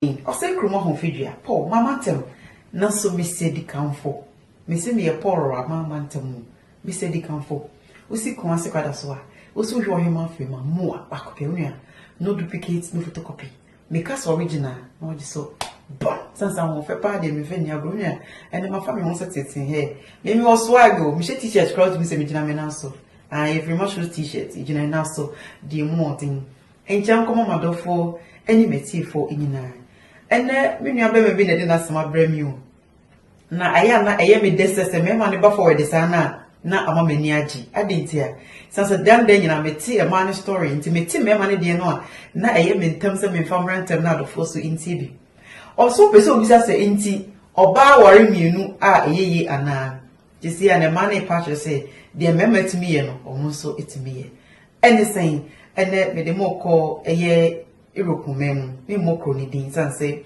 Ii, Ɔsɛ kurom ahofadua, Paul, m'ama ntɛm, Nanso mesɛ dikanfo, Mese meyɛ Paul ra, m'ama ntɛm mu, Mesɛ dikanfo. Wosi kɔn ase kwada so a, Wosi wohwɛ ɔhemaa firi ma, Mua, baako pɛ, Onua, no duplicate, no photocopy, Meka sɛ original, na ɔgye so, Bon, Sane sɛ ahoɔfɛ paa deɛ memfa nni agorɔ, Onua, ɛnde mafa me ho sɛ teetee, Hɛɛ, me mewɔ swag o, Mehyɛ t-shirt koraa wotumi sɛ megyina me nan so, Aah, yɛfiri Marshalls t-shirt, Gyina nna so, Deɛ mu ɔden. Nkyɛ nkɔma m'adɔfoɔ ne m'atiefoɔ nyinaa. Ɛnnɛ me nua barima bi na ɛde n'asɛm abrɛ me o. Na ayɛ a na ɛyɛ me dɛ sɛ sɛ mmarima no ba forward saa no a na ama m'ani agye. Adɛn nti a? Ɛsiane sɛ daa daa nyinaa mete mmaa no story nti mete mmarima no deɛ no a na ɛyɛ me ntɛm sɛ memfa mmra ntɛm na adɔfoɔ so ntie bi. Ɔso wopɛ sɛ obisa sɛ nti ɔbaa ware mmienu a ɛyɛ yie anaa? Seesei a na mmaa no repa akyerɛ sɛ deɛ mmarima tumi yɛ no wɔn nso tumi yɛ. Ɛne sɛn? Ɛnnɛ mede mo rekɔ ɛyɛ Europe man mu. Memmɔ kuro no din sane sɛ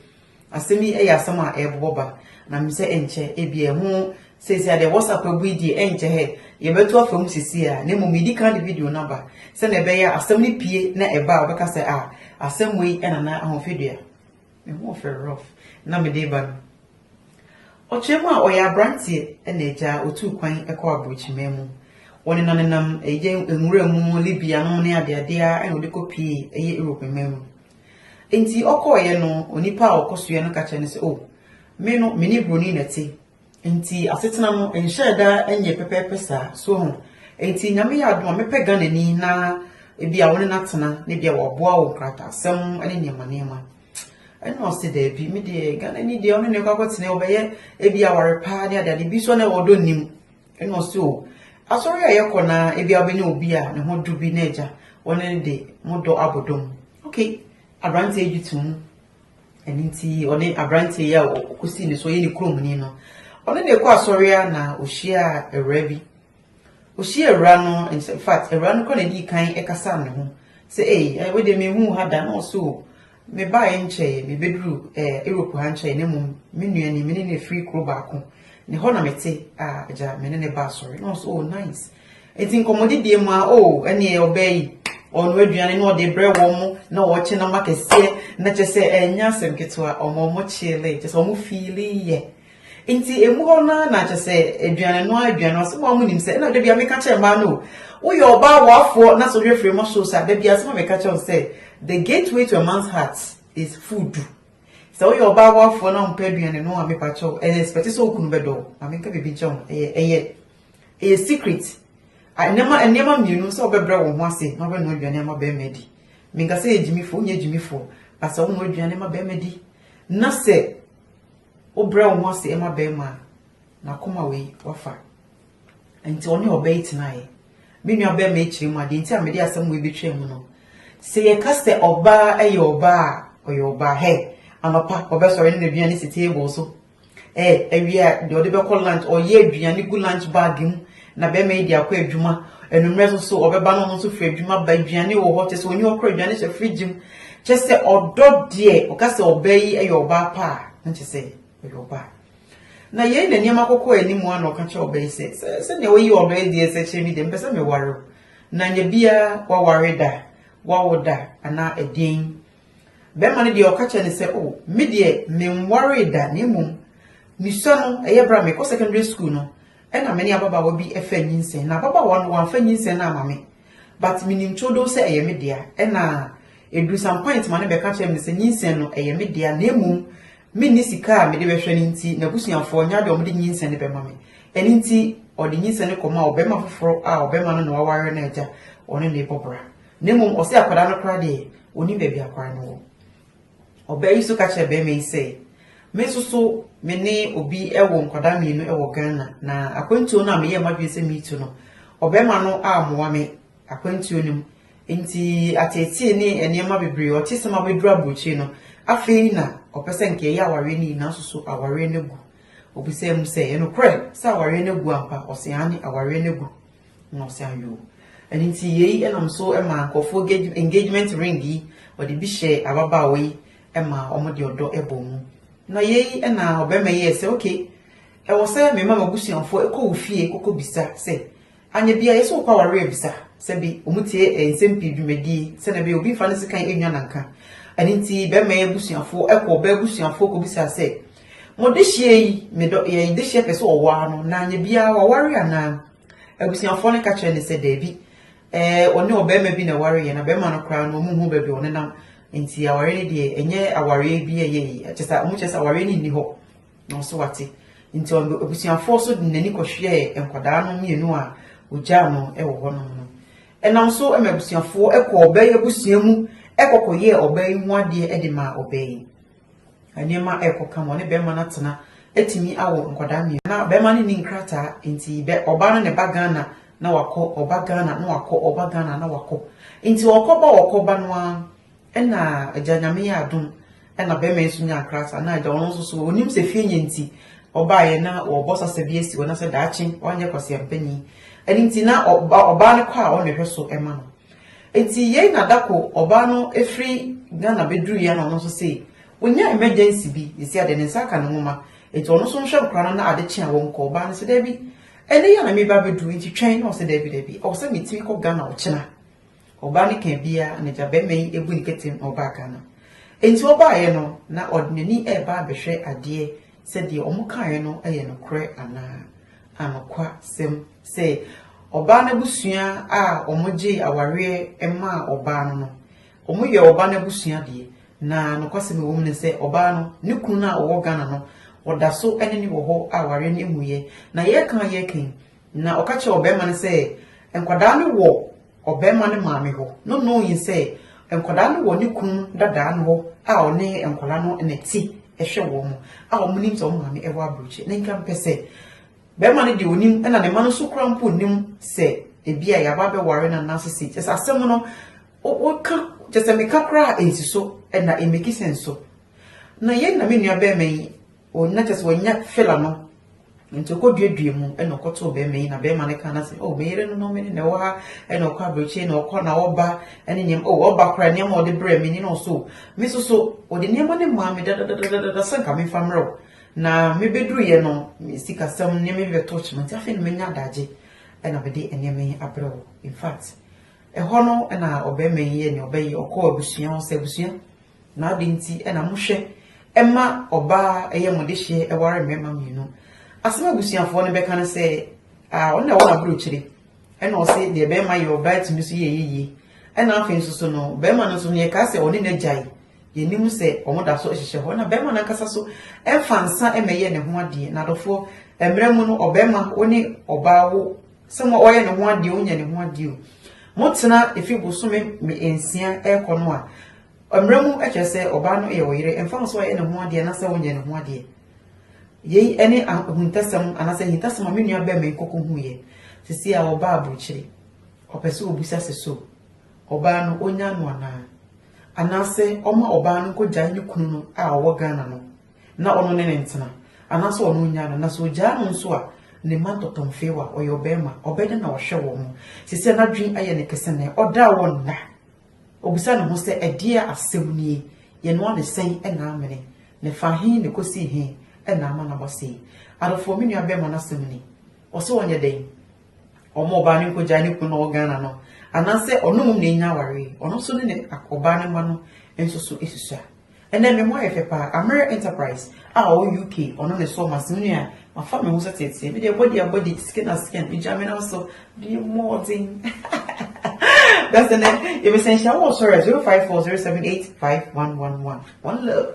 asɛm yi yɛ asɛm a ɛrebobɔ ba, na menim sɛ ɛnkyɛ ebi ɛho seesei adeɛ WhatsApp abu yi deɛ ɛnkyɛ hɛ yɛbɛto afa mu seesei a, na mmom medi kan de video no aba sɛdeɛ ɛbɛyɛ asɛm no pie na ɛba a wɔbɛka sɛ a asɛm wei ɛna na ahofadua Me ho refɛ Rolf na mede reba no. Ɔkyerɛ mu a, ɔyɛ aberanteɛ na agya a ɔtuu kwan kɔɔ aborɔkyimaa mu. Wɔnenanenam ɛyɛ nwura mu, Libya nom ne adeadeɛ ara na ɔde kɔpuee ɛyɛ Europe mmaa mu. Enti ɔkɔeɛ no, onipa a ɔkɔsoɛ no ka kyerɛɛ no sɛ, O, me no, me ne buroni na ɛte, Enti asetena no nhyɛɛ da nyɛ pɛpɛɛpɛ saa. So ho? Enti Nyame yɛ adom a mɛpɛ Ghanani na ebia wo ne no atena na ebia waboa wo nkrataasɛm ne nneɛma nneɛma. Ɛna ɔse daabi, me deɛ Ghanani deɛ ɔne ne kɔ akɔtena ɔbɛyɛ ebia aware paa ne adeade bi so na ɛwɔ ɔdɔ nim. Ɛna ɔse o, asɔre a yɛkɔ na ebia wobɛnya obi a ne ho dɔ bi na agya wɔne no de mo dɔ abɔ dɔ mu. Okay, aberanteɛ gye to mu Ɛno nti ɔne aberanteɛ yi a ɔkɔsii ne so ɔyɛ ne kuromni no ɔne ne kɔ asɔre a na ɔhyia awura bi ɔhyia awura no in fact awura no kora na ɛdii kan ɛkasa ne ho sɛ ei eh, wode mehu ha da na ɔso mebaeɛ nkyɛe mebɛduru eh, europe ha nkyɛe na mmom me nua ni me ne no ɛfiri kuro baako ne hɔ na mete a agya me ne ne ba asɔre na ɔso oh nice Enti nkɔmmɔdidie mu a, o, ɛneɛ ɔbaa yi ɔnoa aduane na ɔde brɛ wɔn mo na wɔkye nam akɛseɛ na kyɛ sɛ ɛnyɛ asɛm ketewa ɔmo ɔmo kyeele kyɛ sɛ ɔmo fiili yɛ nti emu hɔ no ara na kyɛ sɛ aduane no aduane no asɛm a ɔmo nim sɛ ɛna da bia meka kyerɛ mmaa no woyɛ ɔbaa wɔafoɔ na so hwɛfiri mo so sa da bia asɛm a meka kyerɛ wo sɛ the gateway to a man's heart is food sɛ woyɛ ɔbaa wɔafoɔ na ɔmpɛ aduane no a mepakyɛw ɛyɛ expect sɛ okunu bɛdɔ ma menka biribi nkyɛn ɛyɛ ɛyɛ Ɛyɛ secret. Nneɛma nneɛma mmienu sɛ wobɛbrɛ wo ho ase na wobɛnoa aduane ama barima adi. Menka sɛ yɛ gyimifoɔ, wonyɛ gyimifoɔ, but sɛ wonoa aduane ma barima di na sɛ wobrɛ wo ho ase ma barima a, n'akoma wei wafa. Nti ɔne ɔbaa yi tenaeɛ. Me nua barima yi kyerɛ mu a, deɛ nti a mede asɛm wei bɛtwaa mu no, sɛ yɛka sɛ ɔbaa yɛ ɔbaa a, ɔyɛ ɔbaa. Hɛ, anɔpa ɔbɛsɔre ne n'aduane si table so Ɛɛ, awie a, deɛ ɔde bɛkɔ lunch, ɔyɛ aduane gu lunch bag mu na bɛrima yi de akɔ adwuma. Anwummerɛ nso so ɔbɛba na ɔno nso firi adwuma ba aduane wɔ hɔ kyɛ sɛ ɔnyi hɔ kora aduane hyɛ fridge mu. Kyɛ sɛ ɔdɔ deɛ ɔka sɛ ɔbaa yi yɛ ɔbaa pa a, na kyɛ sɛ ɔyɛ ɔbaa. Na yei na nneɛma kɔkɔɔ anim a na ɔka kyerɛ ɔbaa yi sɛ, sɛ sɛdeɛ woyi ɔdɔ yi deɛ sɛ kyerɛ me deɛ mpɛ sɛ meware wo. Na nyɛ biara waware da, wawo da anaa ɛdeɛn. Bɛrima no deɛ ɔka kyerɛ no sɛ, oh, me deɛ menwaree da na mmom mesua no ɛyɛ berɛ a mekɔ secondary school no ɛna me ne ababaawa bi ɛfa nyinsɛn na ababaawa no wamfa nyinsɛn no ama me but menim toodow sɛ ɛyɛ me dea ɛna ɛduru some point ma no bɛka kyerɛ me sɛ nyinsɛn no ɛyɛ me dea na mmom menni sika a mede bɛhwɛ no nti n'abusuafoɔ nya de ɔmde nyinsɛn no bɛma me ɛno nti ɔde nyinsɛn no kɔma ɔbɛrima foforɔ a ɔbɛrima no na waware no agya ɔne ne bɔbra Na mmom ɔse akwadaa no koraa deɛ ɔnim baabi akwadaa no wɔ. Ɔbaa yi nso ka kyerɛɛ barima yi sɛ, Me nso so me ne obi wɔ nkwadaa mmienu wɔ Ghana na akwantuo no a meyɛɛ m'adwene sɛ meretu no, ɔbarima no ammoa me akwantuo no mu. Enti ateetee ne nneɛma bebree, ɔte sɛ mabɛduru aburokyire no, afei na ɔpɛ sɛ nka ɛyɛ awareɛ no yi nanso so awareɛ no agu. Ɔbisaa mu sɛ, Ɛnokorɛ sɛ awareɛ no agu ampa? Ɔse, Aane, awareɛ no agu. na ɔsan yɛ o. Ɛno nti yei nam so ma nkurɔfoɔ gage engagement ring yi wɔde bi hyɛ ababaawa yi ma wɔde ɔdɔ bɔ mu. Na yei na ɔbarima yi yɛɛ sɛ okay ɛwɔ sɛ me ma m'abusuafoɔ kɔ wo fie kɔkɔbisa sɛ anyɛ bia yɛsɛ wokɔ awareɛ abisa sɛ bi wɔn tie eh, nsɛm pii dwumadie sɛ na bɛyɛ obi mfa ne sekan nwa nanka ɛno nti bɛrima yi abusuafoɔ ɛkɔ ɔbaa abusuafoɔ kɔbisa sɛ Mo dehyeɛ yi, me dɔ, yɛ dehyeɛ pɛ sɛ ɔwaa no, na anyɛ biara waware anaa? Abusuafoɔ no ka kyerɛ no sɛ, Daabi, ɛɛ, ɔne ɔbarima bi na ɛwareeɛ, na barima no koraa no, wɔnhu baabi a ɔnenam, nti awareɛ no deɛ, ɛnyɛ awareɛ bi a ɛyɛ yie, kyerɛ sɛ, wɔkyerɛ sɛ awareɛ no nni hɔ. Na ɔso wate. Nti ɔde abusuafoɔ so de n'ani kɔhwɛɛ nkwadaa no mmienu a wɔgyaa no wɔ hɔnom no. Ɛnam so ma abusuafoɔ kɔɔ ɔbaa yi abusua mu kɔkɔyɛɛ ɔbaa yi ho adeɛ de maa ɔbaa yi. Nneɛma a ɛrekɔka ma ɔne barima no atena atumi awo nkwadaa mmienu. Na barima no nni nkrataa, nti ɔbaa no na ɛba Ghana na wakɔ, ɔba Ghana na wakɔ, ɔba Ghana na wakɔ. Nti ɔkɔba ɔkɔba no ara, ɛna agya Nyame yɛɛ adom, ɛna barima yi nso nyaa nkrataa. Na agya ɔno nso so, ɔnim sɛ fie nyɛ nti ɔbaeɛ na wɔrebɔ sasa bi asi hɔ na sɛ daakye wanyɛ kwaseampanin. Ɛno nti na ɔbaa no kɔ a ɔna ɛhwɛ so ma no. Enti yei na da koro ɔbaa no firi Ghana bɛduruiɛ na ɔno nso sei, ɔnya emergency bi, yɛsi adeɛ ne nsa aka ne nwoma, enti ɔno nso nhwɛ no koraa no na ade kye a wɔnkɔ, ɔbaa no sɛ daabi, ɛnnɛ yi a na mereba abɛduru, enti twɛn, na ɔse daabi daabi, ɛwɔ sɛ metumi kɔ Ghana ɔkyena. Ɔbaa no kaa biara, anagya barima yi ɛbu ne ketem na ɔbaa Ghana. Enti ɔbaeɛ no, na ɔde n'ani ɛreba abɛhwɛ adeɛ sɛ deɛ wɔkaeɛ no yɛ nokorɛ anaa. Anokwasɛm sɛ, ɔbaa no abusua a wɔgyee awareɛ maa ɔbaa no no, wɔyɛ ɔbaa no abusua deɛ, na nokwasɛm a ɛwɔ mu ne sɛ, ɔbaa no, ne kunu no a ɔwɔ Ghana no, ɔda so ne no wɔ hɔ a awareɛ no mmuiɛ. Na yɛreka a yɛreka yi, Na ɔka kyerɛɛ ɔbarima no sɛ, Nkwadaa no wɔ ɔbarima no maame hɔ. No knowing sɛ nkwadaa no wɔ ne kunu dadaa no hɔ a ɔne nkwadaa no na ɛte hwɛ wɔn a wɔn nim sɛ wɔn maame ɛwɔ aburokyi. Ne nka mpɛ sɛ barima no deɛ onim ɛna ne ma no nso kura mpo nim sɛ ebi a yaba bɛware na nase si. Kyɛ sɛ asɛm no woka kyɛ sɛ meka koraa a ɛnsi so ɛna ɛmɛki sɛn so. Na yɛn na me nua barima yi Ɔnya kyɛ sɛ ɔnya fela no nti ɔkɔduadua mu na ɔkɔtoo bɛrima yi na bɛrima no ka no sɛ oh me yere no no me ne na ɛwɔ ha na ɔkɔ aberɛkyɛ na ɔkɔ na ɔba ne nneɛma oh ɔba koraa nneɛma ɔde brɛ me ne na ɔso me nso so ɔde nneɛma no maa me dadadadada sɛ nka mefa mmerɛw na mebɛduruyɛ no sikasɛm nneɛma bi bɛtɔ kyema nti afei na menya adagye na mede nneɛma yi abrɛ wo in fact ɛhɔ no na ɔbɛrima yi yɛ nea ɔbɛyɛ ɔkɔɔ abusua hɔ sɛ abusua Na adɛn nti na mohwɛ ma ɔbaa a ɛyɛ mo dehyeɛ ware mmarima mmienu? Asɛm a abusuafoɔ no bɛka ne sɛ, Ah, ɔno na ɛwɔ n'aburokyire. Ɛna ɔse, Deɛ barima yɛ, ɔbaa tumi nso yɛ yie. Ɛna afei nso so no, barima no nso no, yɛkaa sɛ ɔne no agyae. Yɛnim sɛ wɔn da so hyehyɛ hɔ. Na barima no ankasa nso mfa nsa mmɛyɛ ne ho adeɛ. Na adɔfoɔ, mmerɛ mu no, ɔbarima wo ne ɔbaa wo Sɛ mo ɔyɛ ne ho adeɛ onya ne ho adeɛ o mo tena efi bosome me nsia ɛkɔ no a mmerɛ mu ɛkyerɛ sɛ ɔbaa no yɛ ɔyere ɛmfa ho sɛ ɔyɛ ne ho adeɛ anasɛ ɔnyɛ ne ho adeɛ yei ɛne ahuntasɛm anasɛ ahintasɛm a me nua bɛɛ me nkɔkɔ hu yɛ sisi a ɔbaa aburukyiri ɔpɛ sɛ ɔbusa sɛ so ɔbaa no onya no anaa anaasɛ ɔma ɔbaa no nkɔgyae ne kunu no a ɔwɔ Ghana no na ɔno ne no ntena, anaasɛ ɔno ɔnyaa no, na sɛ ɔgyaa no nso a, ne mma ntɔtɔ mfeewa a, ɔyɛ ɔbarima, ɔbɛdɛn na wahwɛ wɔn mo? Seesei n'adwene ayɛ no kɛse nnɛ, ɔdaa wɔn nna. Ɔbisa ne ho sɛ, Ɛdeɛn asɛm nie? Yɛn ano ade sɛn na amene? Na ɛfaa he na ɛkɔsii he na ama no aba sei? Adɔfoɔ, me nua barima no asɛm ni. Ɔse ɔnyɛ dɛn? Ɔmma ɔbaa no nkɔgyae ne kunu no a ɔwɔ Ghana no, anaasɛ ɔno mmom na ɛnya awareɛ? Ɔno nso ne ne ɔbaa no mma no nso so susua. Ɛnɛ me ho ayɛ fɛ paa. Amere Enterprise a ɔwɔ UK ɔno ne sɔ ma seme nua mafa me ho sɛ teetee me deɛ body a body skin a skin megya me nam so deɛ mmɔɔden that's the name yɛbɛsɛ nhyia wɔ ɔsɔre a 0540785111 one love